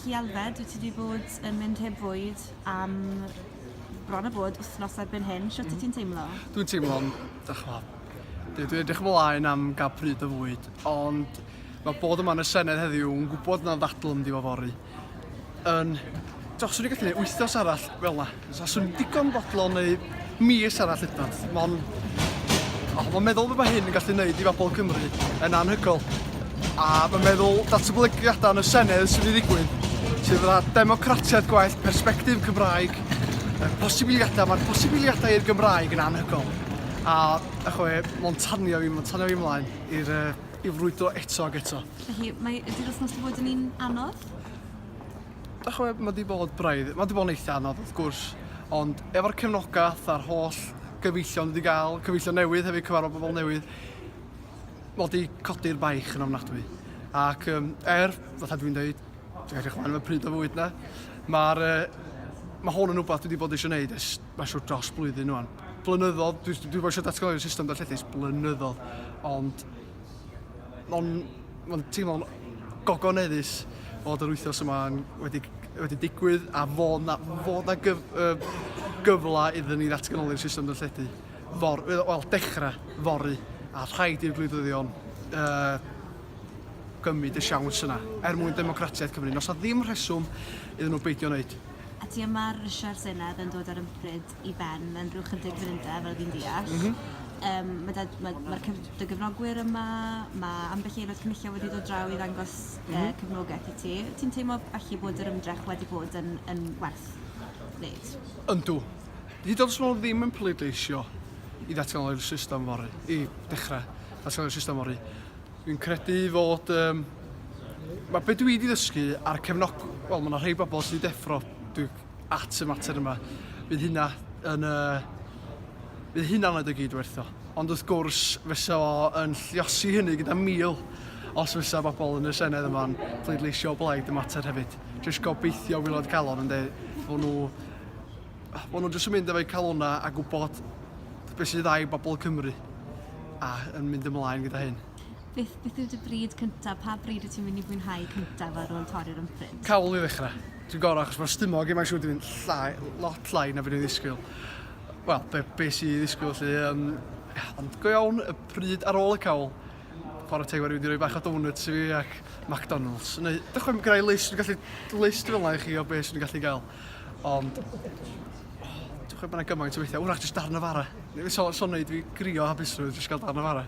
Felly Alfed, wyt ti wedi bod yn mynd heb fwyd am bron a bod wythnos erbyn hyn, siwt mm. ti'n teimlo? Dwi'n teimlo'n dychmyg. Dwi wedi edrych ymlaen am gael pryd o fwyd, ond mae bod yma yn y Senedd heddiw yn gwybod na'n ddadl yn diwafori. Yn... Dos, swn i'n gallu gwneud wythnos arall fel yna. Faswn i'n digon bodlon neu mis arall hyd nod. Mon... Oh, mae'n meddwl beth mae hyn yn gallu gwneud i bobl Cymru yn anhygol. A mae'n meddwl datblygiadau yn y Senedd sydd wedi ddigwydd, sydd yna democratiaeth gwaith, perspektif Cymraeg, posibiliadau, mae'r posibiliadau i'r Gymraeg yn anhygol. A, a chwe, mae'n tanio fi, mae'n tanio fi ymlaen i'r uh, i frwydro eto ac eto. Felly, mae ydy'r wythnos wedi bod yn un anodd? Dach ch'mod ma' 'di bod braidd, ma' 'di bod yn eitha anodd wrth gwrs ond efo'r cefnogath a'r holl gyfeillion ni 'di ga'l, cyfeillion newydd hefyd, cyfarfod pobol newydd, ma' 'di codi'r baich yn ofnadwy ac yym er, fatha dwi'n deud, dwi'n edrych mlan am y pryd o fwyd 'na, ma'r yy ma' hwn yn wbath dwi 'di bod eisiau neud ers ma' siŵr dros blwyddyn ŵan. Blynyddodd, dwi dwi 'di bod eisiau datganoli system darlledus blynyddodd ond Ma'n ma'n teimlo'n gogoneddus fod yr wythnos yma yn wedi wedi digwydd a fod 'na fod 'na gyf- yym gyfle iddyn ni ddatganoli'r system darlledu for- yy wel dechra fory a rhaid i'r gwleidyddion yy gymryd y siawns yna er mwyn democratiaeth Cymru. Nos 'na ddim rheswm iddyn nhw beidio wneud. A ti yma Richard Senedd yn dod ar ympryd. i ben yn rhyw chydig fynydde fel fi'n deall. M-hm. Yym ma' 'da ma' ma'r cyf- dy gefnogwyr yma ma' ambell i aelod cynulliol wedi dod draw i ddangos yy m-hm. cefnogaeth i ti. Wyt ti'n teimlo felly bod yr ymdrech wedi bod yn yn werth neud? Yndw. Hyd yn o'd os ma' nw ddim yn pleidleisio i ddatgelu'r system fory i dechre datgelu'r system fory fi'n credu fod yym ma' be' dwi 'di ddysgu a'r cefnog- wel ma' 'na rhei bobol sy'n deffro dwi at y mater yma, bydd hynna yn y... bydd hynna'n rhaid o gyd wertho. Ond wrth gwrs, fysa o yn lliosi hynny gyda mil os fysa bobl yn y Senedd yma'n pleidleisio blaid y mater hefyd. Jyst gobeithio wylod calon yn dweud fod nhw... fod nhw jyst yn mynd efo'u calona a gwybod beth sydd ddau bobl Cymru a yn mynd ymlaen gyda hyn. Beth, beth yw dy bryd cyntaf? Pa bryd wyt ti'n mynd i fwynhau cyntaf ar ôl torri'r ymprint? Cawl i ddechrau. Dwi'n gorau achos mae'r stumog yma siwr di fynd llai, lot llai na fi'n ei ddisgwyl. Wel, be, be sy'n ei ddisgwyl lle, um, ond go iawn y pryd ar ôl y cawl, chwarae teg wedi rhoi bach o donuts i fi ac McDonald's. Neu, dych chi'n gyda'i list, dwi'n gallu list fel yna i chi o beth sy'n gallu gael. Ond, dwi'n chwe bod gymaint o weithiau, wrach jyst darn o fara. Neu, so, so wneud fi grio hapusrwydd jyst gael darn o fara.